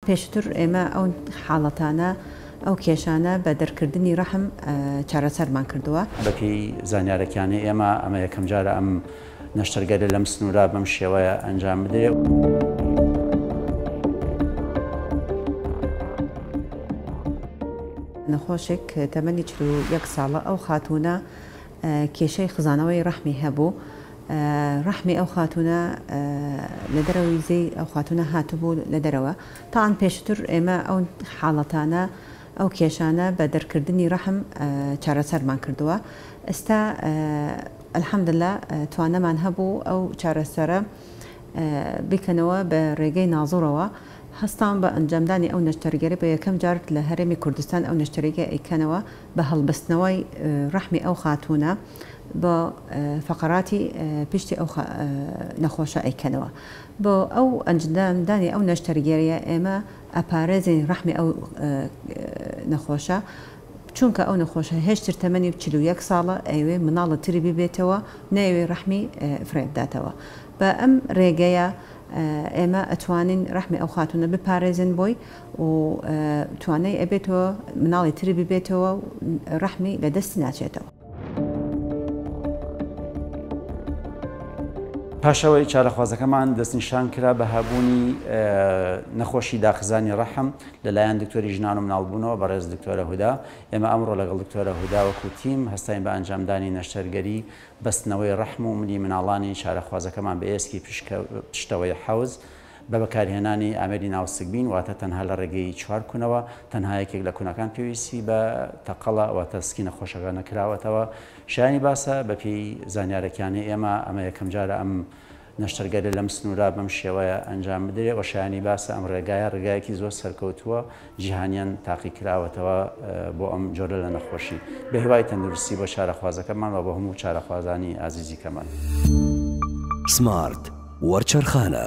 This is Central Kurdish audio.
پێشتر ئێمە ئەو حاڵەتانە، ئەو کێشانە بە دەرکردنی رەحم چارەسەرمان کردووە. بەپێی زانیارەکانی ئێمە ئەمە یەکەمجارە ئەم نەشتەرگەرە لەم سنوورە بەم شێوەیە ئەنجام بدرێت. نەخۆشێک تەمەنی چل و یەک ساڵە، ئەو خاتوونە کێشەی خزانەوەی ڕەحمی هەبوو ڕەحمی ئەو خاتوونە لە دەرەوە ویزەی ئەو خاتوونە هاتبوو لە دەرەوە تاان پێشتر ئێمە ئەو حاڵەتانە ئەو کێشانە بە دەرکردنی ڕەحم چارەسەرمان کردووە ئستا الحمدللە توانەمان هەبوو ئەو چارەسەرە بیکەنەوە بە ڕێگەی ناظورەوە هەستاون بە ئەنجامدانی ئەو نەشتەرگەری بە یەکەم جار لە هەرێمی کوردستان ئەو نەشتەرگە ئەیکەنەوە بە هەڵبەستنەوەی ڕەحمی ئەو خاتوونە بۆ فەقەراتی پشتی ئەو نەخۆشە ئەیکەنەوە بۆ ئەو ئەنجدام دانی ئەو نەشتەرگێریە ئێمە ئەپارێزین ڕەحمی ئەو نەخۆشە چونکە ئەو نەخۆشە هێشتر تەمەنی چ و یەک ساڵە ئەوێ مناڵە تری ببێتەوە نەوێ ڕەحمی فرێبداتەوە بە ئەم ڕێگەیە ئێمە ئەتوانین ڕەحمی ئەو خاتونە بپارێزن بۆی و توانای ئەبێتەوە مناڵی تری ببێتەوە و ڕەحمی لە دەستی ناچێتەوە. پاش ئەوەی چارەخوازەکەمان دەستنیشان کرا بە هەبوونی نەخۆشی داخزانی ڕەحم لە لایەن دکتۆری ژنان و مناڵبوونەوە بەڕێز دکتۆرە هودا، ئێمە ئەمڕۆ لەگەڵ دکتۆرە هودا وەکو تیم هەستاین بە ئەنجامدانی نەشتەرگەری بەستنەوەی ڕەحم و ملی مناڵانی چارەخوازەکەمان بە ئێسکی پشکە پشتەوەی حەوز بە بەکارهێنانی ئامێری ناوسکبین واتە تەنها لە ڕێگەی چوار کونەوە، تەنها یەکێک لە کونەکان پێویستی بە تەقەڵە واتە سکی نەخۆشەکە نەکراوەتەوە. شایانی باسە بە پێی زانیارەکانی ئێمە ئەمە یەکەم جارە ئەم نەشتەرگەریە لەم سنورە بەم شێوەیە ئەنجام بدرێ و شایانی باسە ئەم ڕێگایە ڕێگایەکی زۆر سەرکەوتووە جیهانیان تاقیکراوەتەوە بۆ ئەم جۆرە لە نەخۆشی بەهیوای تەندروستی بۆ چارەخوازەکەمان و بە هەموو چارەخوازانی ئازیزی کەمان. سمارت وەرچەرخانە.